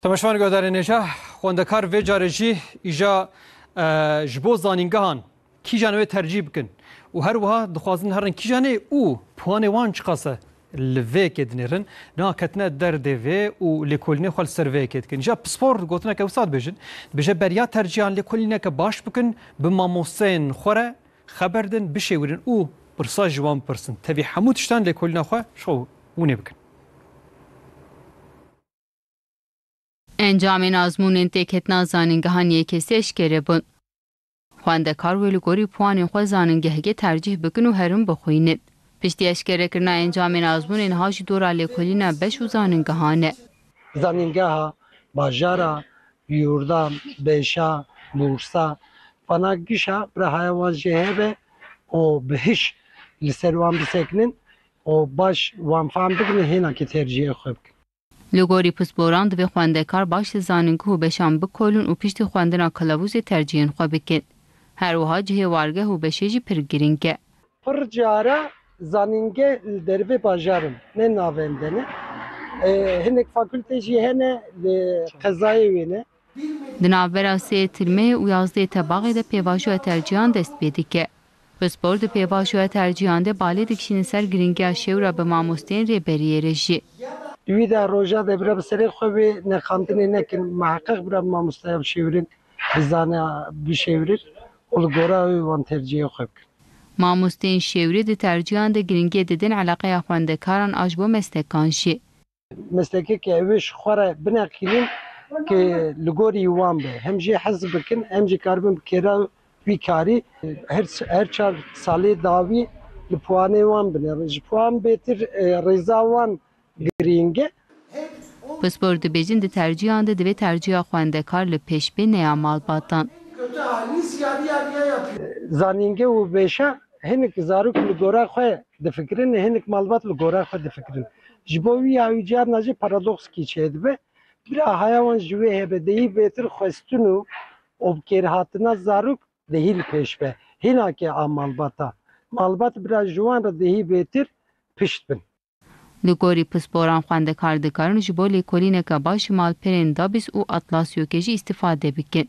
Temeşvan Guhdarênêja, xwendekar vê carê jî îja ji bo zanîngehan kîjan wê tercîh bikin û her wiha dixwazin herin kîjanê û puanê wan çiqas e li vê yekê dinêrin. Niha ketine derdê vê û lêkolînê xwe li ser vê yekê dikin. Îja pispor gotineke wisa dibêjin. Dibêje beriya tercîhan lêkolîneke baş bikin, bi mamosteyên xwe re xeber din, bişêwîrin û pirsa ji wan bipirsin. Tevî hemû tiştan lêkolîna xwe ji xwe winê bikin. Encamên azmûnên têketina zanîngehan yekê sê eşkere bûn. Xwendekar wê li gorî puanên xwe zanîngehgê tercîh bikin û herim bixwînin. Piştî eşkerekirina encamên azmûnê niha jî dora lêkolîna beş û zanîngehan e. Zanîngeha Bajara, Yûrda, Bêşa, Bûrsa, Fana, Gişa birahaya wan jê hebe û bi hiş li ser wan bisekinin û baş wan fam bikin û hênakê tercîhê xwe bikin. Li gorî pisporan divê xwendekar baş li zanîngeh û beşan bikolin û piştî xwendina kilavûzê tercîhên xwe bikin. Her wiha cihê wargeh û beşê jî pir girîng e. Pir cara zanîngeh li dervê bajar in, ne navendene. Hinek fakultê jî hene li qezayê wê ne. Di navbera sê tirmê û yazdeh tebaxê de pêvajoya tercîhan dest pê dike. Pispor di pêvajoya tercîhan de balê dikişîne ser girîngiya şêwra bi mamosteyên rêberiyê re jî. Di wî de roja de bira bi serê xwe vê neqandinê nekin, miheqeq bira bi mamosteya bi şêwirin bizane bişêwirin û li gora wê wan tercîhê xwe bikin. Mamosteyên şêwirî di tercîhan de girîngiyê didin eleqeya xwendekaran a ji bo meslekan jî. Meslekê ke ew ê ji xwe re bineqînin ke li gorî wan be. Hem jê hez bikin hem jî karibin bi kêra wî karî. Her çar salê dawî li piwanê wan binêrin. Ji piwan bêtir rêza wan girîng e. Pispor dibêjin di tercîyan de divê tercîya xwendekar li pêş bê neya malbatan. Zanînge û vêşa Hinek zarok li gora xwe difikirin, hinek malbat li gora xwe difikirin. Ji bo wî ya wî carna jî paradoxkî çêdibe. Bira haya wan ji wê hebe dehî bêtir xwestin û obkêrhatina zarok dehî li pêş be. Hinake a malbat a. Malbat bira ji wan re dehî bêtir pişt bin. Li gorî pisporan xwendekar dikarin ji bo lêkolîneke baş ji malperên Dabis û Atlasyokê jî îstîfade bikin.